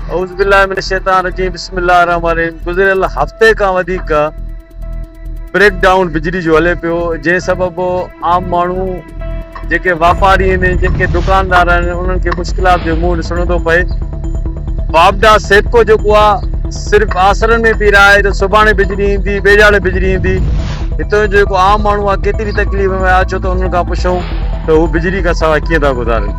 اعوذ بالله من الشيطان الرجيم بسم الله الرحمن الرحيم گذريل هفتي کان وڌيڪ بريڪ ڊائون بجلي جو هلي پيو جنهن سبب عام ماڻهو جيڪي واپاري آهن جيڪي دڪاندار آهن انهن کي مشڪلات جو منهن ڏسڻو ٿو پئي واپڊا سيپڪو جيڪو آهي صرف آسرن ۾ پي رهائي ته سڀاڻي بجلي ايندي ٻيجاڙي بجلي ايندي هتو جو جيڪو عام ماڻهو آهي ڪيتري تڪليف ۾ آهي ڇو ته انهن کان پڇون ته هو بجلي کان سواء ڪيئن ٿا گذارن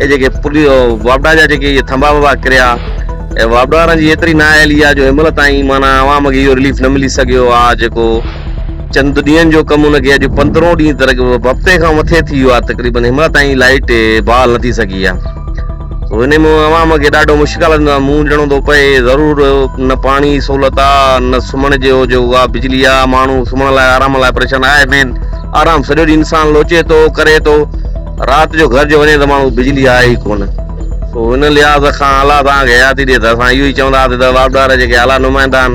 اهي جيڪي پلي واپڊا جا جيڪي اهي ٿنڀا وڀا ڪريا اي واپڊا وارن جي ايتري نااهلي آ جو هن مهل تائين معنيٰ عوام کي اهو رليف نه ملي سگهيو آ جيڪو چند ڏينهن جو ڪم ان کي اڄ پندرهون ڏينهن تر هفتي کان مٿي ٿي ويو آ تقريبن هن مهل تائين لائٽ بحال نه ٿي سگهي آ سو ان ۾ عوام کي ڏاڍو مشڪلن جو منهن ڏيڻو ٿو پئي ضرور نه پاڻي سهولت آ نه سمهڻ جو جو آ بجلي آ ماڻهو سمهڻ لاء آرام لاء پريشان آهي مين آرام سڄو ڏينهن انسان لوچي ٿو ڪري ٿو رات جو گهر جو وڃي ته ماڻهو بجلي آهي ئي ڪونه سو ان لحاظ کان اعليٰ توهان کي حياتي ڏي ته اسان اهو ئي چونداسي ته واڪدار جيڪي اعليٰ نمائندا آهن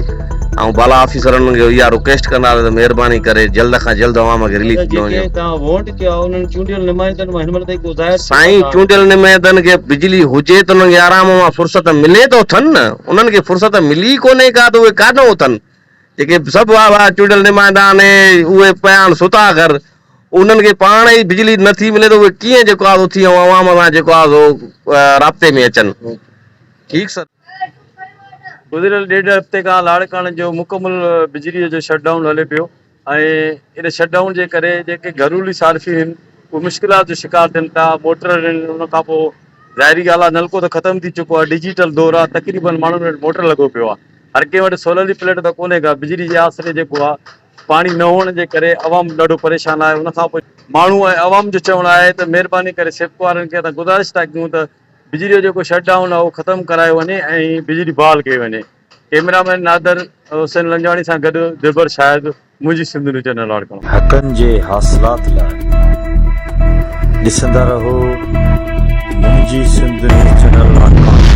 ۽ بالا آفيسر انهن کي اها رڪويسٽ ڪنداسي ته مهرباني ڪري جلد کان جلد عوام کي رليف ڏنو وڃي. سائين چونڊيل نمائندن کي بجلي هجي ته انهن کي آرام مان فرصت ملي ته اٿن نه انهن کي فرصت ملي ئي ڪونه ڪا ته اهي ڪاڏهن اٿن جيڪي سڀ واهه واهه چونڊيل نمائندا آهن اهي پيا آهن ستا گهر انهن کي پاڻ ئي بجلي نه ٿي ملي ته اهي ڪيئن جيڪو آهي اٿي ۽ عوام سان جيڪو آهي سو رابطي ۾ اچن. ٺيڪ سر. گذريل ڏيڍ هفتي کان لاڙڪاڻي جو مڪمل بجلي جو شٽ ڊائون هلي پيو ۽ ان شٽ ڊائون جي ڪري جيڪي گهرولي صارفين هن اهي مشڪلات جو شڪار ٿين ٿا موٽر هلن ان کان پوء ظاهري ڳالهه آهي نلڪو ته ختم ٿي چڪو آهي ڊجيٽل دور آهي تقريبن ماڻهن وٽ موٽر لڳو پيو آهي هر ڪنهن وٽ سولر جي پليٽ ته ڪونهي ڪا بجلي جي آسري جيڪو آهي پاڻي نه هئڻ جي ڪري عوام ڏاڍو پريشان آهي ان کانپوء ماڻهو ۽ عوام جو چوڻ آهي ته مهرباني ڪري سيپڪو وارن کي اسان گذارش ٿا ڪيون ته بجلي جو جيڪو شٽ ڊائون آهي اهو ختم ڪرايو وڃي ۽ بجلي بحال ڪئي وڃي ڪئميرا مين نادر حسين لنجواڻي سان گڏ دلبر شاهد منهنجي سنڌ نيوز چينل لاڙڪاڻو. حقن جي حاصلات لاء ڏسندا رهو منهنجي سنڌ نيوز چينل لاڙڪاڻو.